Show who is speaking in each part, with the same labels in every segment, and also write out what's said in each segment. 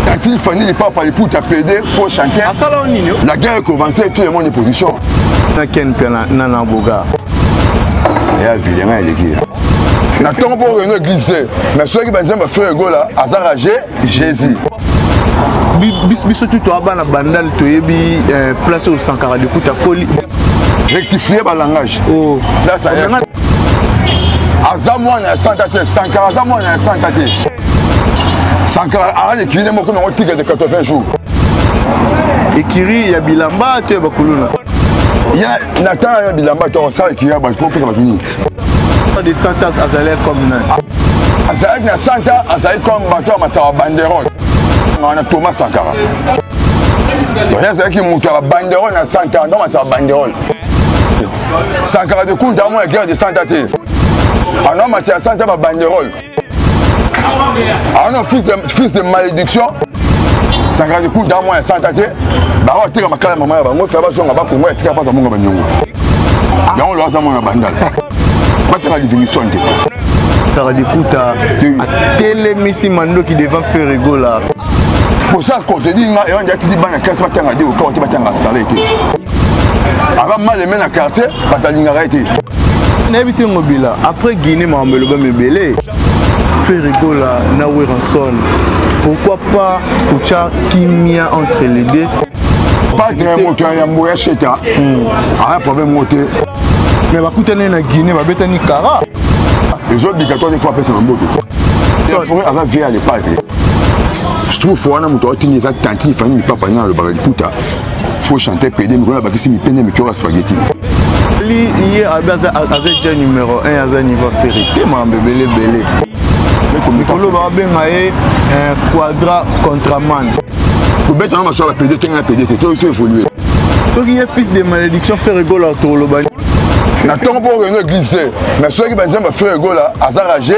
Speaker 1: Tati Fanny Papa Iputa PD faux chanteur. Asala ah, nini? La guerre commence tout le monde position. Na Ken
Speaker 2: Piana na na boga.
Speaker 1: Ya vilenga eleki. Na tongo po reno église. Mais soki banzemba ba frère Gola azara Jésus.
Speaker 2: biso tu toa bana bandal toyebi eh, place osankaka likuta koli rectifier
Speaker 1: balangage oh. aza mwana ya santa te sankara aza mwana ya santa te sankara aali ekilile moko nango tika de 80 jours
Speaker 2: ekiri ya bilamba to ya bakuluna ya
Speaker 1: na ntango ya bilamba to osala ekiri ya bato kopesa bato nini de
Speaker 2: santas azali comme nani azalaki na
Speaker 1: santa azali comme bato ya matsawa banderole wana thomas sankara oyo azalaki moto ya babanderole na santa ndo matsawa banderole sankara de kunta amona guerre de santa te ana mati ya santa babanderole ana fils de, fils de malédiction sankara de kunta amona ya santa te bango ateka makala mama ya bango fya bazonga bakongo ya tika mpasa monga banyongo yango lo aza mwana bandala batanga livingston te sankara
Speaker 2: de kunta atelemisi mandoki devant ferregola posa
Speaker 1: contredire nga eyo nde atidi bana kelasi batanga de okao te batanga sale te aba mal aimé na quartier bato alingaka ye te nayebi te
Speaker 2: ngobila après guinée makambo elobami ebele ferigola na weranson pourquoi pas kotya kimia entre les deux patre
Speaker 1: moto ya yambo ya sheta hmm. aya problème ngo te mais bakutani
Speaker 2: na guinée babetani kara ezobika
Speaker 1: to nefo apesa na mboto fore aza vie ya lepatre je trouve fo wana moto aotini eza tantine fani mipapa nini alobaka liputa faut chanter pede mikolo abakisi mipende mikolo ya spaghetti li
Speaker 2: ye abi aza ja numéro 1 aza niveau ferre te mambe belebele mikolo babenga ye eh, quadra contraman kobeta
Speaker 1: na masolo ya pede te ngai ya pede te toyo to évolue soki ye
Speaker 2: fils de malédiction ferre gola toloba na ntongo mpo
Speaker 1: okende eglise te mais soki banzemba ferre gola aza rage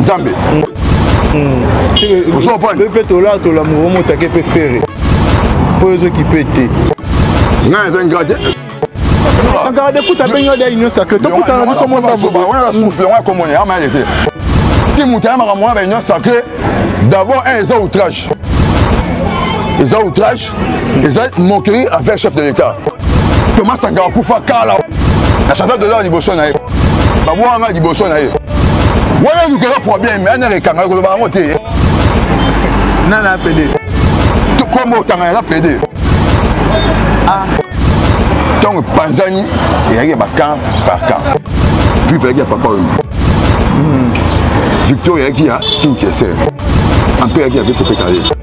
Speaker 1: nzambe
Speaker 2: mpe tolatola moko motake mpe fere mpo ezokipe te ngai eza
Speaker 1: ngira te sankara
Speaker 2: de kuta abengi yo de union sacré topusana na biso motawana souffle yango
Speaker 1: akomona yama yale te ti moto ayamaka mwana ba union sacré d'abord un eza outrage eza outrage eza moquerie avec chef de l'état thomas sanga akufa kala na chantal dollar liboso na ye babwaka ngai liboso na ye wana elukaka problème anaka ekanga ekoloba yango te
Speaker 2: nana apede kombo
Speaker 1: otanga yanga pede ntango ah. epanzani eyaki ya bacamp par camp vive yaki ya papa oyo hmm. victor eyaki ya kinkese ampe eyaki ya vekopetale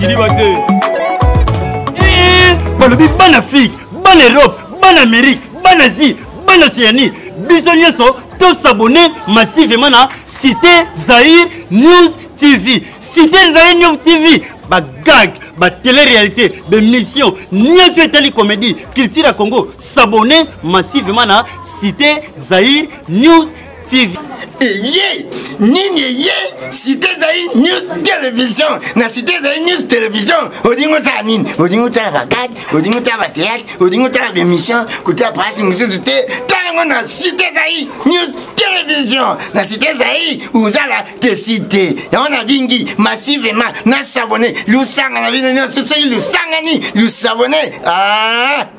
Speaker 1: kiliba te
Speaker 3: eh, balobi bana afrique bana europe bana amérique bana asie bana océanie biso nyonso tosabone massivement na cité zaire news tv cité zaire news tv bagag batele-réalité bemission nyonso etali comédie culture ya congo s'abonne massivement na cité zaire news TV eye
Speaker 4: nini eye site ezali news television na site ezali news television olingi otala nini olingi otala bakade olingi otala bateatre olingi otala bemission kotala prasi mosusu te talango na site ezali news television na site ezali ozala te site yango na bingi massivement na sabone lusanga na bino nyonso soki lusangani lusabone ah!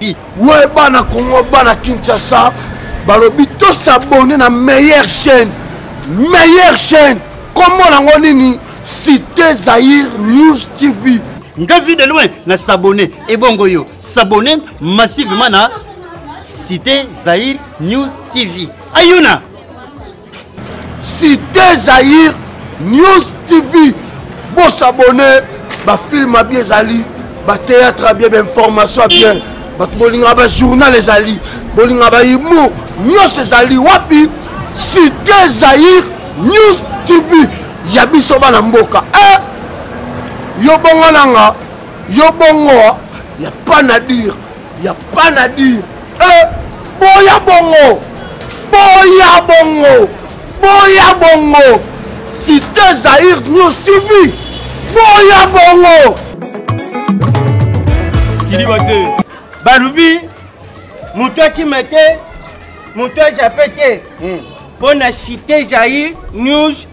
Speaker 4: we bana
Speaker 5: congo bana kinshasa balobi tosabone na meilleure chaîne meilleure chaîne kombo nango nini cité zaire news tv nga vie de loin
Speaker 3: na sabone ebongo yo sabone massivement na cité zaire news tv ayuna
Speaker 5: Cité Zaïre News TV bosabone bafilme abi ezali batéâtre abi bainformation abien bato bolingaka bajournal ezali bolingaka bahumour nyonso ezali wapi cité zaïre news tv ya biso bana mboka e yo bongo nanga yo bongo ya pas na dire ya pana dire eh, boya bongo boya bongo boya bongo cité zaire news tv boya bongo
Speaker 6: kiliba te balobi moto akima te moto ajape te mpo hmm. na cité jair news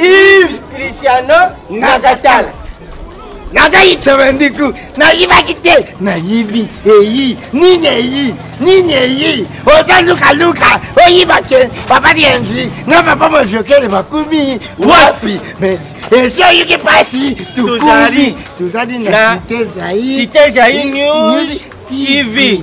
Speaker 6: Yves Cristiano Nakatala.
Speaker 4: nazali sevendiku nayibaki te nayibi eyi nini eyi nini eyi oza lukaluka oyiba ke papa dienzi na papa mojokele bakumi wapi mais esi oyoki mpasi tukumi tozali na site
Speaker 6: zaire tv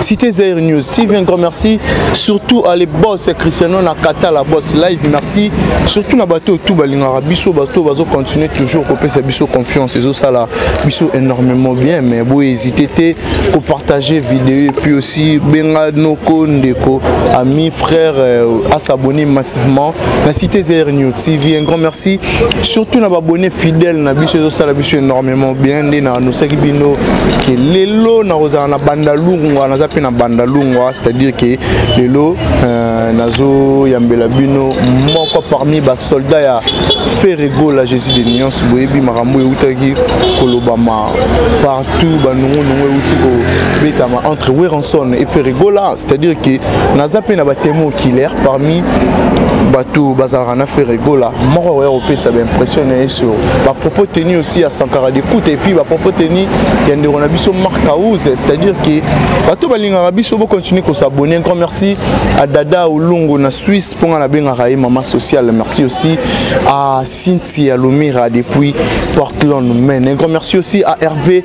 Speaker 2: Cité Zaire News TV, un grand merci. Surtout à les boss Cristiano Nakata, la boss live, merci. Surtout na bateau tout balingara biso bateau bazo continuer toujours ko pesa biso confiance et ça là biso énormément bien mais bo hésiter té ko partager vidéo et puis aussi benga noko ndeko ami frère euh, à s'abonner massivement. La Cité Zaire News TV, un grand merci. surtout na babone fidèle na biso ezosala biso énormément bien nde na annosaki bino ke lelo nakozala na bandalungwa naza mpe na bandalungwa c'est-à-dire ke lelo euh, nazoyambela bino moko parmi basoldat ya ferregola jésus de nuance boyebi makambo eutaki kolobama partout banungunungu euti kobetama entre weranson e ferregola c'est-à-dire que naza mpe na batemo oculaire parmi bato bazalaka na frere gola moko akoya kopesa baimpression na ye sur bapropos tenu aussi ya sankara dekuta epuis bapropos tenu ya ndeko na biso mark house c'est-à-dire que bato balingaka biso bocontinue kosabonne encore merci à dada olongo na suisse mpo nga nabengaka ye mama sociale merci aussi à cynthia lomira depuis portland maine encore merci aussi à hervé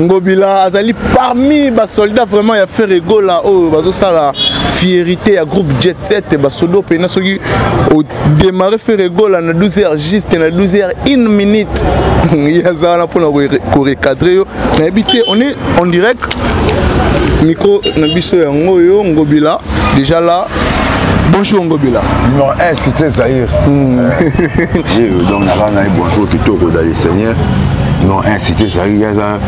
Speaker 2: ngobila azali parmi basoldat vraiment ya ferre gola oyo bazosala fierité ya groupe jet 7 basodo mpena soki odemare ferre gola na 12 heures juste na 12 heures 1 minute ye aza wana mpona korecadre yo nayebi te on est en direct micro na biso yango oyo ngobila Déjà là, bonjour ngobila numéro 1 cité
Speaker 1: zaïre hmm. euh, donc naka ngai bonjour kitoko ezali seigneur numéro 1 cité zaïre eza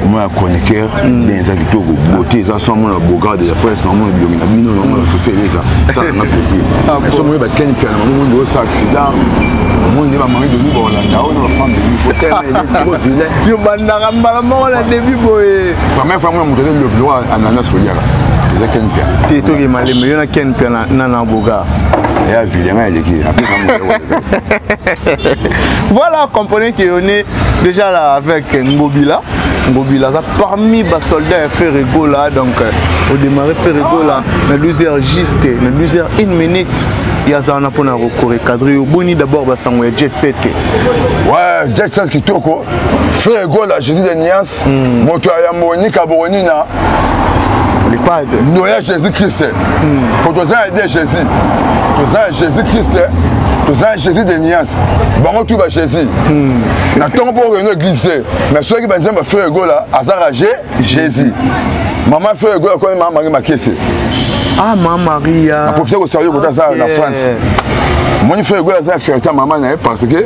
Speaker 1: mwa ya chroniqueur hmm. bien eza kitoko bote eza so amona bogar de la presse na omona bilongi na bino na omona fese eleza esalanga plaisir ah, so moye bakeni piana mamomo nde osa accident omoni nde bamami doni baolanda oyo na bafambe vilain yo bandaka mbala moko na debi boye première fois mona moto aza lobilo ananas olia eza ken pia te toke malembe yo na ken pia na na boga ya vile ngai aleki
Speaker 2: apesa voilà comprenez que on est déjà là avec ngobila ngobila aza parmi basoldat ya ferre gola donc euh, odémarre ferre gola na 12 heures juste na 12 heures 1 minute ye aza wana mpona korecadre yo boni d'abord basango ya jet set ouais
Speaker 1: jet set kitoko ferre gola jésus de niance hmm. moto ya yambo onika bokonina lipade ndo ya jésus christ po hmm. toza ya de jésus toza ya jésus christ toza ya jésus de niance bango tu ba jésus hmm. na ntongo mpo okende église te mais soki banzambe ya frère egola azaka je jésus mama frère egola koni mama marie makese ah ma
Speaker 2: maria naprofite kosaluye kota
Speaker 1: aza na france omoni frère egola aza ya ferta mama na ye parce que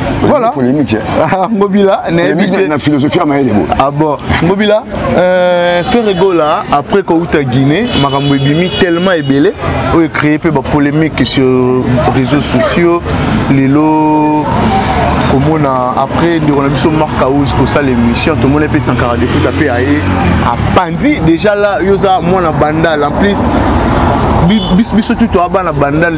Speaker 1: voilà polémique ah, ngobila
Speaker 2: na
Speaker 1: philosophie ya mayele bo ah bon ngobila
Speaker 2: euh, ferre gola après kouta guinée makambo ebimi tellement ebele oyo ecréé mpe bapolémique sur réseaux sociaux lelo komona après ndeko na biso mark house kosala émission tomoni mpe sankara dekuta mpe aye apandi déjà la yo oza mwana bandal en plus biso tutu abana bandal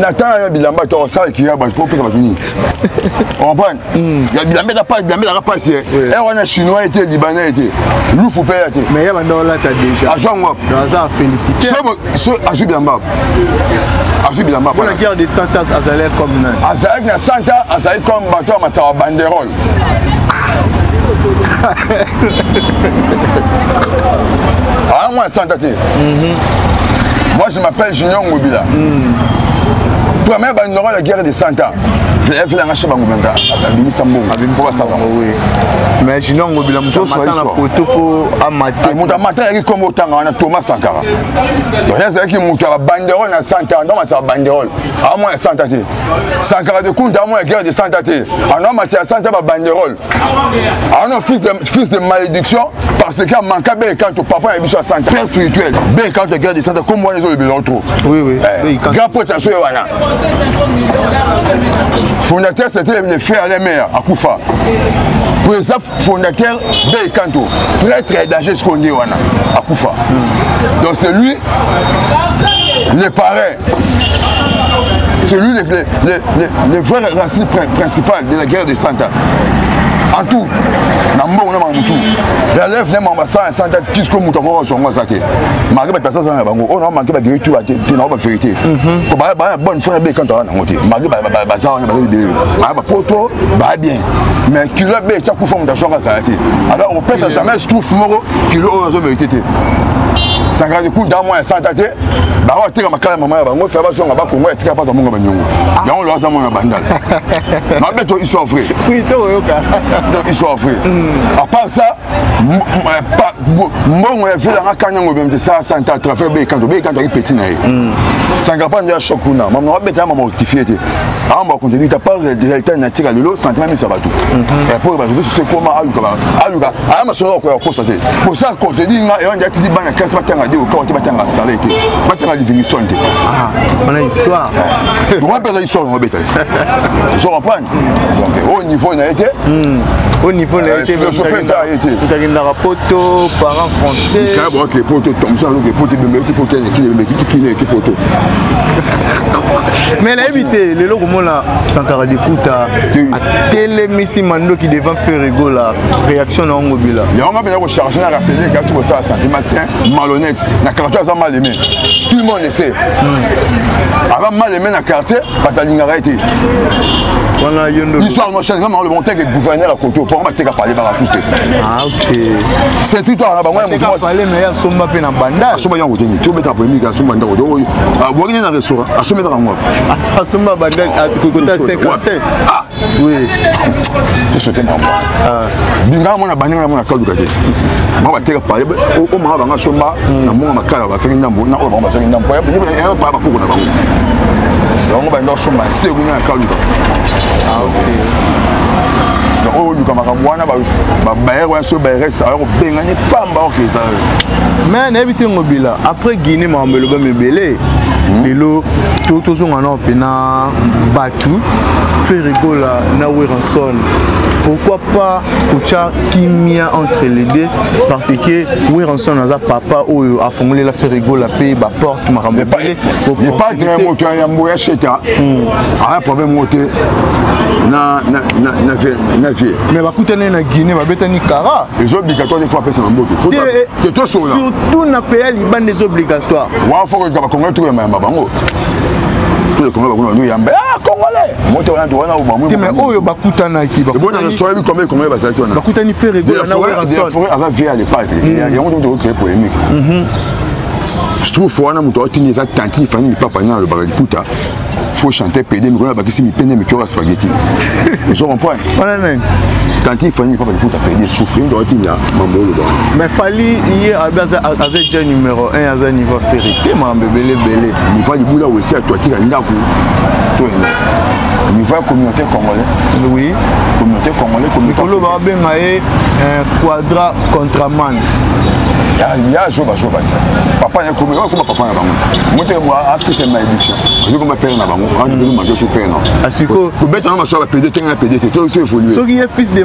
Speaker 2: na tanga
Speaker 1: ya bilamba to sala kiya ba ko pesa ba tuni on prend ya bilamba da pas bilamba da pas c'est eh on a chinois était libanais était lufu pe ya te mais ya ba ndo la
Speaker 2: ta déjà a jongo dans ça
Speaker 1: féliciter
Speaker 2: so so a ju bilamba
Speaker 1: a ju bilamba pour la guerre des santas
Speaker 2: azalait comme azalait na santa
Speaker 1: azalait comme bateau ma tawa banderole wana ah, mwana santa te mhm. moi je m'appelle junior ngobila mm. première bandinoko ya guerre de santa efela nga sheba ngobenda abimisa mbongo po basala
Speaker 2: mais junior ngobila moto amata na poto po amate moto amata yaki kombo
Speaker 1: otanga wana thomas sankara donc ye azalaki moto ya babanderole na santa donc asala banderole awa mwana santa te sankara de kunta amona guerre de santa te ano amati ya santa babanderole ano fils de, fils de malédiction parce que amanka be ekanto papa na biso ya santa père spirituel be ekanto ya guerre de santa comme wana ezolobelao trop oui, oui. eh,
Speaker 2: grand pote na soye
Speaker 1: wana fondateur c'était le frère le mère akufa fondateur bel kanto prêtre ya danger sikoyo nde wana akufa donc c'est lui le parrain c'est lui le, le, le, le vrai racine principal de la guerre de santa en tout na mbongo na mamutu relève ne mamba sa santa tisko moto akoko zongo aza te marke bato baza na bango oyo na manke bageri tu te na bango baverité mhm. po baya bonne fona be kanto aza nango te marke baza wana baza libele baya bapoto baya bien mais kilo abe etya kufa moto azwaka azala te alors opesa jamais stoufe moko kilo oyo azo merite te sangani coup d'un mois ya santa te bango bateka makala ya mama ya bango fya bazonga bakongo ya tika mpasa monga banyongo ah. yango loaza mwana ya bandala mabe to histoire vrai donc
Speaker 2: histoire vrai
Speaker 1: hmm. à part ça mbongo ya vile anga kanya ngo bemte sa sa nta trafer be kanto be kanto ki petit na ye hmm. sanga pa ndia choc kuna mama wa beta mama rectifier te amba contenu ta par réalité na tika lelo sentiment misa batu et pour ba réseaux sociaux comment ayuka ba ayuka aya masolo ko ko sa te pour ça contenu nga e wanda tidi bana classe batanga de ko te batanga sale te batanga divination te ah on a
Speaker 2: histoire on va pas
Speaker 1: histoire on va beta je comprends oyo niveau na ye te oyo niveau
Speaker 2: na ye te philosophie eza ye te
Speaker 1: akendaka poto
Speaker 2: parent français kala boake poto
Speaker 1: tomsa loke poto ebembeki poto kine ebembeki kine eki poto
Speaker 2: mais nayebi te lelo komona sankara dikuta atelemisi mandoki devant ferrego la réaction na yango bila yango nga mpenza kocharge
Speaker 1: na rapele kati kosala sentiment sain malhonnête na quartier aza mal aimé tout le monde le sait aza mal aimé na quartier bato alingaka ye te
Speaker 2: wana yo ndo histoire no change ngama oloba
Speaker 1: oteke gouverneur ya koto mpo bateka pale baka suse ah,
Speaker 2: sentri to
Speaker 1: na bango ya moto pale me asomba
Speaker 2: mpe na banda asomba yango te ti obeta
Speaker 1: polemike asomba ndako te oyo abwaki ne na restaurant asomba ndaka ngo asomba banda
Speaker 2: ah, kokota 55 oui to
Speaker 1: sote mama ah. bingaka mwana bandingaka mwana kaluka te mama bateka paye o mama banga somba hmm. na monga makala basaki ndambo na oyo bango basaki ndambo paye yeba paye bakoko na bango bango banda osomba se ekuna na kaluka ah, donc oyo oluka makambo wana babayere wana soki bayeres aya kobengani pamba oke eza me nayebi
Speaker 2: te ngobila après guinée makambo elobami ebele hmm. lelo tozonga nao mpena Hmm? Ferre Gola na Werenson pourquoi pas kotia kimia entre les deux parce que Werenson aza papa oyo afongolela Ferre Gola mpe baporte makambo ebele epatre
Speaker 1: moto ya yambo ya sheta hmm. aya problème moko te na
Speaker 2: vie mais bakutani na guinée babetani kara eza obligatoire te fo
Speaker 1: apesa na mbote te tosolola surtout na pays ya
Speaker 2: libanda eza obligatoire wa fo koyika bakongo
Speaker 1: etoko ya mayamba bango tous les congolais bakuna bandu yamba ah congolais moto wana to wana obamwe te mais oyo bakutanaki
Speaker 2: ebona na soyebi combien combien
Speaker 1: bazalaki wana bakutani ferre gola na
Speaker 2: werson forêt avant vie à
Speaker 1: l'épatre yango to to créer polémique je trouve fo wana moto atini eza tantine fani lipapa nini alobaka liputa faut chanter pede mikolo abakisi mipende mikolo ya spaghetti ozo comprendre tantine fani lipapa liputa pede souffrir moto atini mambo oloba mais fali
Speaker 2: ye abi aza eja numéro 1 aza niveau feri te mambo ebele ebele niva libula
Speaker 1: wesi atuatika ndako to ene niva communauté congolais oui
Speaker 2: communauté congolais
Speaker 1: communautékolo babenga ye
Speaker 2: euh, quadra contraman
Speaker 1: ya zoba zoba te papa ya komi oyo koma papa na bango te moto ya africaine na éduction ozo koma pere na bango andu manke so pere na asiko kobeta na maso ya bapede te na pede te to so évolue soki ye fils de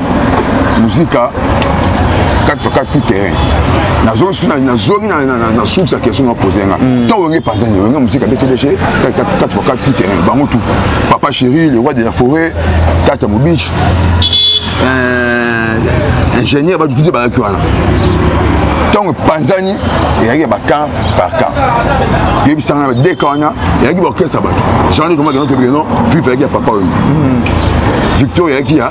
Speaker 1: muzika 4 sur 4 tout terrain nazongi na source ya question na pose nga mm. to wenge panzani wenge muzika btdg 4 sur 4 tout terrain bango tout papa chéri le roi de la forêt tata mobich euh, ingénieur bato tude bazalaki wana ntango epanzani ezalaki ya bacamp par camp toyebisanga na deka wana ezalaki baorkestre ya bato jean luc magenotobigeno vive ezalaki ya papa oyo victor ezalaki ya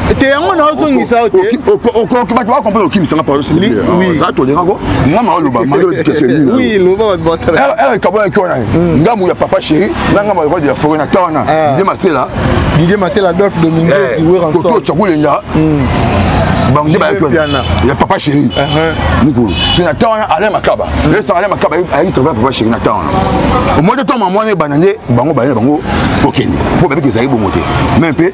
Speaker 1: te yango naozongisa
Speaker 2: yo te okoki
Speaker 1: bato bakomprendre okimisanga pao za tolingako nga ma oloba maekabonaki
Speaker 2: wana
Speaker 1: ngambu ya papa chéri na ngambo ya ya foret na ta wana didie masela didie masela adolphe dominguez weransoto cakulenga bango nde bayaki wana ya papa chéri mikolo so na temps wana alain makaba esaka alain makaba ayaki travail papa chéri na temps wana omoni te ntango mamwana ebanda nde bango baye na bango kokende mpo babiki ezali bongo te me mpe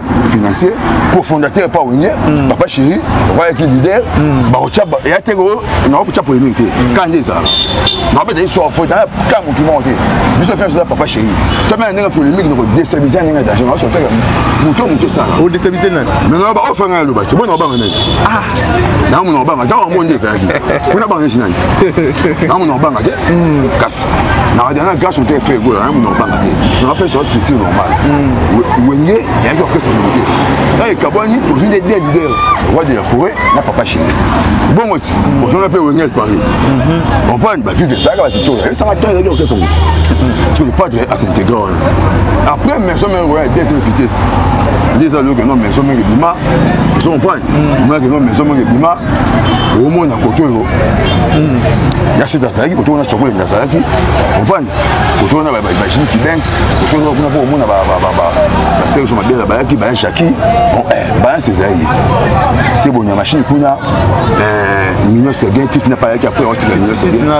Speaker 1: financier cofondateur pa wenye mm. papa chéri oyaki leader mm. bakotya eya te nako kotya polémique te mm. kanje ezala nakobeta histoire fo na ka motu moko te biso fia toza papa chéri somi na ndenge polémique noko destabilise ya ndenge danger naoso kaka moto moto esala odestabilise nani
Speaker 2: maintenant baofa ngai
Speaker 1: aloba te bona obanga nani ah. namo na obanga ntango yango nde ezalaki mpona banga neti nani namo na obanga te kasi nakadana gaso te fe gola naye munoko banga te nakapesa yo structure normal hmm. wenge yayaki orchestre moko te na ekabwani tozwi nde de lider roi de la forêt na papa chine bongo ti hmm. ozona mpe wenge paris hmm. compagne bavive ezalaka batitola esanga temps ezalaki orchestre moko parce le padre asintegra wana après maison mère royale deuxième vitesse nde eza loyoka no maison mère ebima ozo compagne omonaki no maison mère ebima omona kote oyo hmm. ya sete azalaki kote wana chakolende azalaki ovani kote wana bajini kibens kote wana kuna mpo omona baserge mabela bayaki baya jaki eh, balance ezali ye se boni ya mashine kuna eh, mino seguin titi na payaki apres otika mino seguin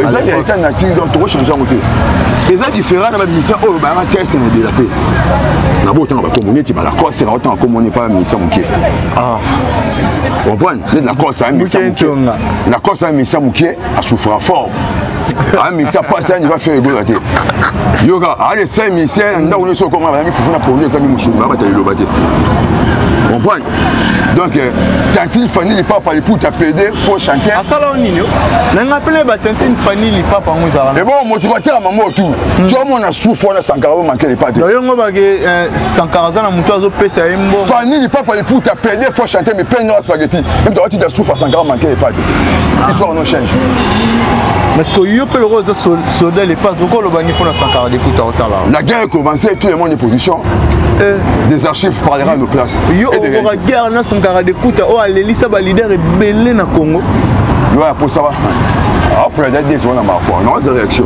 Speaker 1: eza ya etat nature donc tokochange yango te eza différent na bamisa oyo bayaka test na delape nabotanga bakombo neti balacoste nakotanga kombo ne pa misa moke Ah. comprendre nde lacoste amisa moke lacoste amisa moke asouffra fort amisa mpasi ani va faire egola te yoka aye saint misien ndako nyonso okoma bayami fufu na pondu ezangi mosungu babata liloba te comprendre donc euh, tantine fanny lipapa liputa pede faux chanteur asala o nini
Speaker 2: nanga pele ba tantine fanny lipapa yango ezalaka ebongo moto batela mango
Speaker 1: tu tiomona stuf wana sankara oyo manke lipa te yongo bake
Speaker 2: sankara aza na moto azopesa ye mbongo fani lipapa liputa
Speaker 1: pede fo chante mais peine noa spaghetti emto atita sufa sankara manke epate ah. histoire no change parce
Speaker 2: que yo mpe lokola oza soldat lepas oko olobani mpo na sankara likuta otala la guerre ecommence
Speaker 1: tout le monde est position eh. des archives parlera nos places yo okoka guerre
Speaker 2: na sankara likuta oyo alelisa balider ebele na congo yo aposa
Speaker 1: wa apres ya dadies wana makwa naoza réaction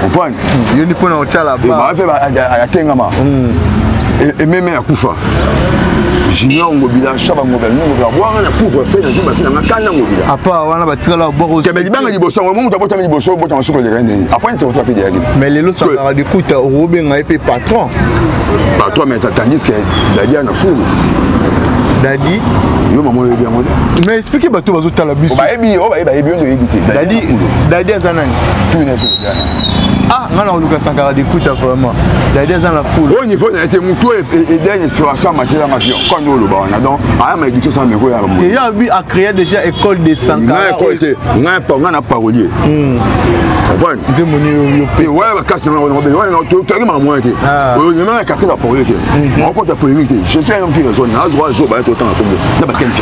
Speaker 1: comprendre yo ni pona otyala
Speaker 2: ba ba fe atengama
Speaker 1: et même à
Speaker 2: Koufa.
Speaker 1: junior ngobila shaba ngobila nini ngobila bwanga na couvre feu nazo bafina nga kanda ngobila apa wana batikala
Speaker 2: boko kembe libanga liboso yango
Speaker 1: moto abotami liboso obota masuku eleka ndeni apani tokoto ape deyaki mais lelo sakaka
Speaker 2: dikuta okobenga ye mpe patron patron
Speaker 1: mais tandis que dadi ana fulu dadi
Speaker 2: yo mama
Speaker 1: oyebi yango te mais explike bato
Speaker 2: bazotala biso bayebi yo bayebi bayebi yo
Speaker 1: nde oyebi te dadi aza
Speaker 2: nani
Speaker 1: ah nga
Speaker 2: na koluka sankara dikuta vraiment dadi aza na foule oyo niveau naye te motu
Speaker 1: oyo edenge inspiration amatela nga vion kani oloba wana donc aya ma éducation sa meko ya ya bi a créé
Speaker 2: déjà école de sankara nga école te nga pa
Speaker 1: nga na parolier hmm. comprendre nzembo ni
Speaker 2: yo pe waya ba kasi na wana
Speaker 1: be waya to to ma moyen te ah. oyo nyama ya kasi na parolier te hmm. on compte la polémique te je suis un homme qui raisonne na zo ba to temps na kombo na ba kenke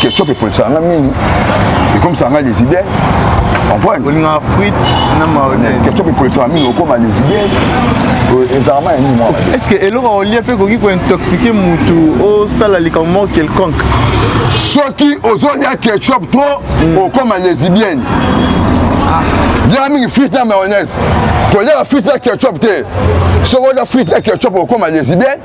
Speaker 1: ketchup epolisaka nga mingi ekomisaka nga lesibien olingaka frite
Speaker 2: na mayonnaise ketchup epolisaka mingi
Speaker 1: okoma lesibien ezalaka ma ya nini mwa
Speaker 2: est ce que eloko olie mpe ekoki kointoxike motu osala likambo moko quelconque soki
Speaker 1: ozolia ketchup to hmm. okoma lesibienne lyaka mingi frite na mayonnaise kolyaka frite na ketchup te soki olya frite na ketchup okoma lesibienne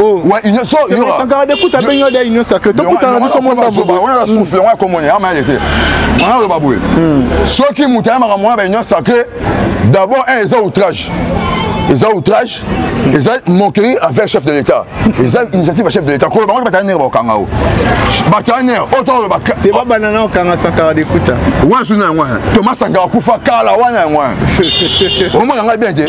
Speaker 1: Oh. Ouais, union so yo. Sankara de kuta benyo de
Speaker 2: union sacrée. To kusa na biso mwa babu. Ba wana souffle wana
Speaker 1: komone ama yete. Wana lo babu. Soki mutaya maka mwa ba union sacrée d'abord un eza outrage. eza outrage eza moquerie envers chef de l'état eza initiative ya chef de l'état kolo bango bataya nere bakokanga o bataya nere oyo tokoloba te babanda na okanga
Speaker 2: sankara dekuta wana suna yango
Speaker 1: toma sankara kufa kala wana yango omona ngai bien te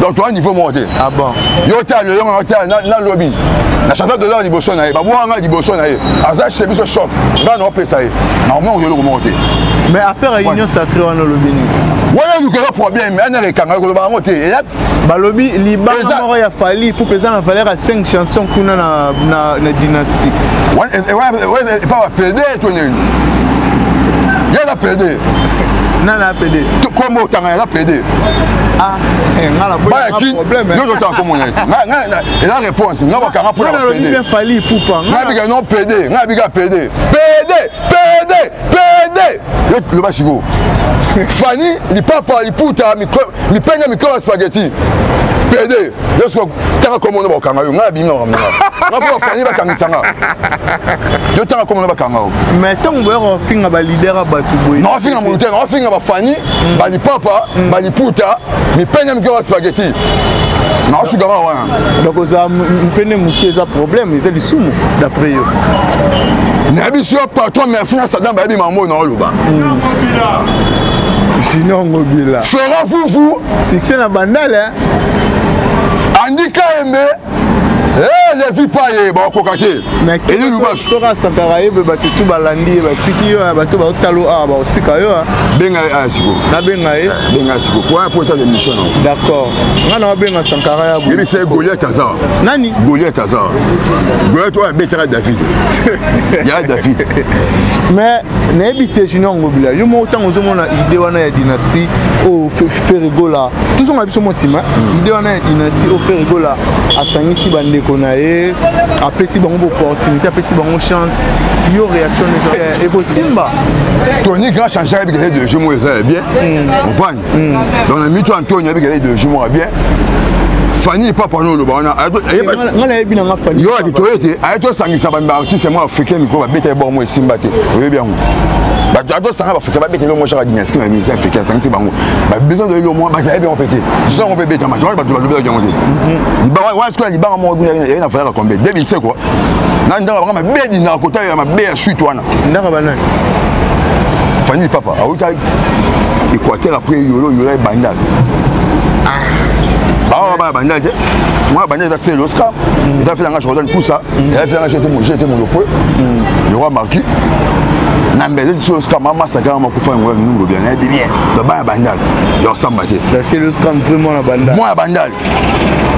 Speaker 1: donc toa niveau moko te ah yo
Speaker 2: te aloyonga yo
Speaker 1: te nalobi na chantal dollar liboso na ye babwaka ngai liboso na ye aza chez biso shop ngai naopesa ye nakomongo eloko moko te mais affaire ya
Speaker 2: union sacré wana olobi nini wana elukaka
Speaker 1: problème anaka ekanga ekoloba yango te balobi
Speaker 2: libanga moko ya fali pupe eza na valeur ya 5 chanson kuna na dynastie
Speaker 1: epa bapede to nini ye na pede nana
Speaker 2: pede kombo otanga yaza
Speaker 1: pede ah,
Speaker 2: eh, baya kin nyonso otanga kombo na ye
Speaker 1: eza réponse nga bakanga mpo na pede
Speaker 2: nga bika non pede
Speaker 1: nga bika pede pede pede pede loba sikoyo fani lipapa liputa mipenge mikolo ya spageti pede yo soki tanga kombo no bakanga yo ngai abimi makambo nga nga fo bafani bakangisa nga yo tanga kombo no bakanga yo mais ntango boyaka
Speaker 2: bafinga balider ya bato boye na bafinga moto te na bafinga
Speaker 1: bafani mm. balipapa mm. baliputa mipenge mikolo ya spageti naosuka kaka wana donc oza
Speaker 2: mpene moke eza problème eza lisumu d'après yo
Speaker 1: nayebi si yo patron merci na sadam bayebi makambo oyo naoloba
Speaker 2: Junior Ngobila. Ferre Fufu.
Speaker 1: Succès na bandale.
Speaker 2: Hein?
Speaker 1: Andy Kaembe. Eh, les vies pas ye ba koka te. Eli Lubasu.
Speaker 2: Soka sakara ye be batu tu balandi ye batiki yo ya batu ba otalo a ba otika yo. Ah. Benga a ah, siko.
Speaker 1: Na benga ye. Eh,
Speaker 2: benga siko. Kwa
Speaker 1: pour ça l'émission. D'accord.
Speaker 2: Ngana wa benga sankara ya bo. Yebi c'est Goliath aza.
Speaker 1: Nani? Goliath
Speaker 2: aza.
Speaker 1: Goliath wa betara David. Ya David. Mais
Speaker 2: nayebi te junior ngobila yo moko ntango ozomona ide wana ya dynastie oyo ferigola tozonga biso mwa nsima hmm. ide wana ya dynastie oyo ferigola asangisi bandeko na ye apesi bango boopportunité apesi bango chance yo réaction ekosimba tony
Speaker 1: grand change ayebika ye de jeu moko eza ya bien hmm. hmm. donc na mitu antonio abikela ideologie moko bien fani papa no oloba wana
Speaker 2: yo akitoye te
Speaker 1: aye tosangisa baartiste mwa africain mikro babeta ye bor mo esimba te oyebi yango bato atosanga baafricain babeta elio moshaka dynastie na musicien africain asangisi bango babesoin de elio mwa bato ayebi yango mpe te jina yango mpe ebetama to wana bato balobelaki yango te libanga wana sikoyo libanga moko ekundaye na valaka kombe 2007 kua na ndanga banga mabe dinaka kota ya mabe ya suite wana ndaka banani fani papa awuta équateur après yolo yola ebandal awa baya banda te mwana banda eza fele oscar eza fele yanga jordan kusa eza fele yanga jete monopole le roi marki na mbele ti oscar mama sakanga makufa yango ya nungo bien nayebi bien babaya bandal ya osamba te
Speaker 2: mwana bandal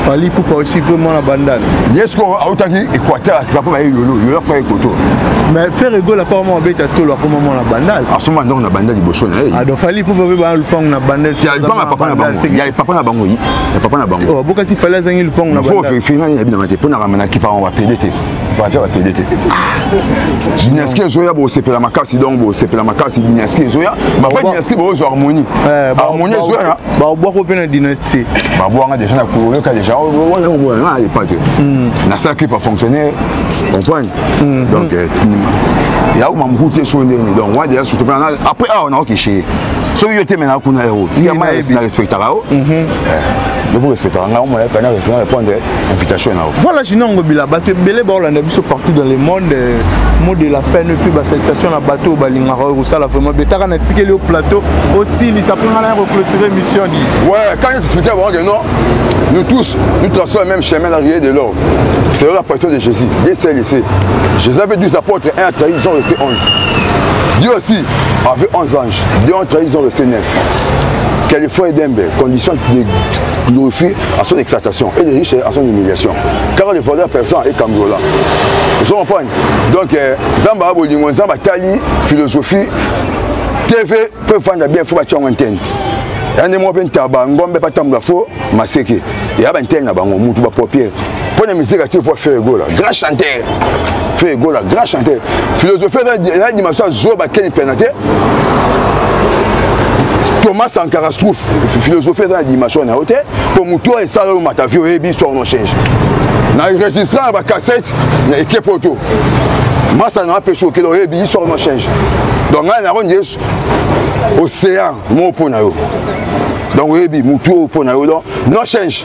Speaker 1: fali
Speaker 2: pupa aussi mpe mwana bandana ye sikoyo autaki
Speaker 1: équateur akika mpo baye yolo yolo akoya ekoto mais ferre egola
Speaker 2: mpo akoma abeta tolo akoma mwana bandal asoma ndongo na bandal
Speaker 1: liboso na ye ado fali pupa mpe
Speaker 2: baa lupango na bandal ya lupango ya papa na bango
Speaker 1: ya papa na bango ya papa na bango oh, bokasi fali azangi
Speaker 2: lupango na bandal fo verifie ngai na binanga te
Speaker 1: mpo na ramana kipa bango bapede te baza bapede te dinaski ezoya bosepela makasi donc bosepela makasi dinaski ezoya bafai dinaski bozwa harmonie eh, harmonie ezoya baobwako mpe na
Speaker 2: dinaski te babwanga déjà na
Speaker 1: koloka déjà wana komona na alepa te nasala clip afonctionner comprendre mm. donc euh, yako mamuku te so ndeni donc wana déjà surtout mpena après awa nakokeshe soki yo te mena kuna ero yama na respectaka yo lobo respectaka ngai omona fana respectaka répondre invitation na voilà jinongo bila
Speaker 2: bato ebele baolanda biso partout dans le monde euh, mot de la fin ne plus basalutation na bato oyo balingaka oyo kosala vraiment betaka na tikeli yo plateau osilisa mpo ngana ya koclotire mission di ouais quand expliqué
Speaker 1: bango que non nous tous nous traçons le même chemin la rivière de l'or c'est la passion de Jésus Dieu s'est laissé Jésus avait 12 apôtres un a trahi ils sont restés 11 Dieu aussi avait 11 anges Dieu a trahi ils sont restés 9 Californie Dembe condition qui glorifie à son exaltation et les riches à son humiliation. Car les voleurs persans et Kambola. Vous comprenez Donc, euh, Zamba Abolingo, Zamba Tali, philosophie, TV, peuvent vendre bien, il faut battre un thème. yande moko mpe ntaba ngombe batambola fo maseke ya bantene na bango mutu bapopiere mpo na misika te mpo feu egola grand chanteur feu egola grand chanteur philosophie eza dimension ya zoba keni pena te thomas sankara stroufe philosophie eza na dimension na yo te mpo motu oyo esala yo mata vie oyebi histoire no change na enregistre ya bacassette na ekipe oyo to masa na apesi okele oyebi histoire no change donc ngai nako nde océan moko mpo na yo donc oyebi motu oyo mpo na yo donc no change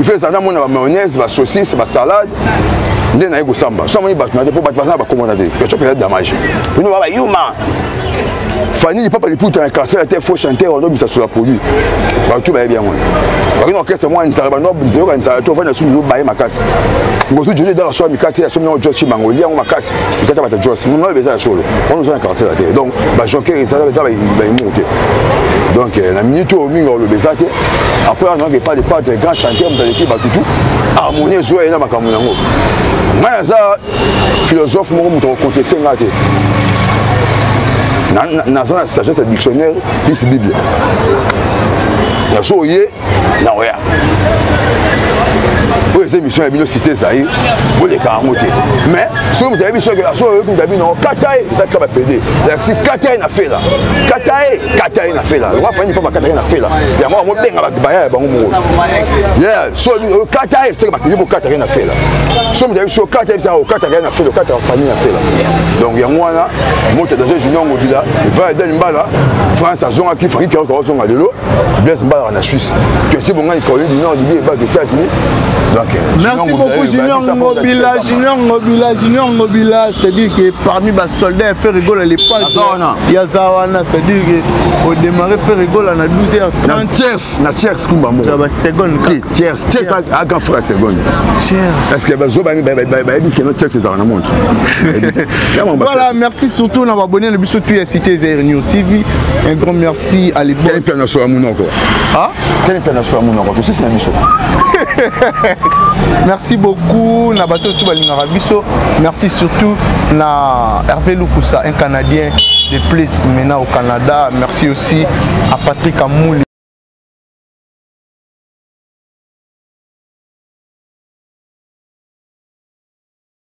Speaker 1: ifo ezala na mona ba mayonnaise ba saucisse ba salade nde naye kosamba so amoni bato na te mpo bato baza na bakomona te yaco mpenza damage bino baba yuma fani lipapa liputa na quartier ya te faux chanteur ondo bisasola produit bato bayebi yango bakini orchestre mwa nzala bano nzeyoka nzala to ofandi asusu baye makasi ngosu jojo edaka soa mikate asomi yango jos cibango olia yango makasi mikate bata jos monoyo beza ya solo wana oza na quartier ya te donc bajonker ezala eza bayemour te donc na minute oyo mingi oloba eza te après wana nayoka epai lepatre grand chanteur moto aleki bato tu harmonie ezwa ye na makambo yango ngai aza philosophe moko moto akokonteste ngai te naza na sagesse ya dictionnaire plus bible nazo oye na oya oyo eza émission ya bino cité ezali boleka yango te mais soki moto ayebi soki aso oyoki moto ya bino kata ye eza kaka bapede lakisi kata ye na fela kata ye kata ye na fela lokola fani mpa bakataki na fela yango bango benga baya ya bango moko so okata ye seke bakende bokataki na fela so moto ayebi so okata yebisa okataka ye na fela okataka fani na fela donc yango wana moto danger junior ngodila va eden mbala france azongaki franki pierre kawazonga lelo blaise mbalaka na suisse kesi bongani caroline du nord libi ebaki états-unis Merci beaucoup Junior
Speaker 2: Ngobila, Junior Ngobila, Junior Ngobila, c'est-à-dire que parmi bas soldat ya ferre gola lepage ya za wana c'est-à-dire que odémarre ferre gola na 12 heures 30 tiers na tiers kumba
Speaker 1: moko ya ba seconde ki
Speaker 2: tiers tiers
Speaker 1: aka fra seconde tiers parce que bazo bangi ba ba ba que no tiers ezala na monde
Speaker 2: voilà merci surtout na abonné na biso tu ya cité zaire news tv un grand merci à l'époque quel plan na so amuno ko ah
Speaker 1: Quelle international monoko tosisi na biso
Speaker 2: merci beaucoup na bato oyo balingaka biso merci surtout na hervé lukusa un canadien de plus maintenant au canada merci aussi à patrick amouli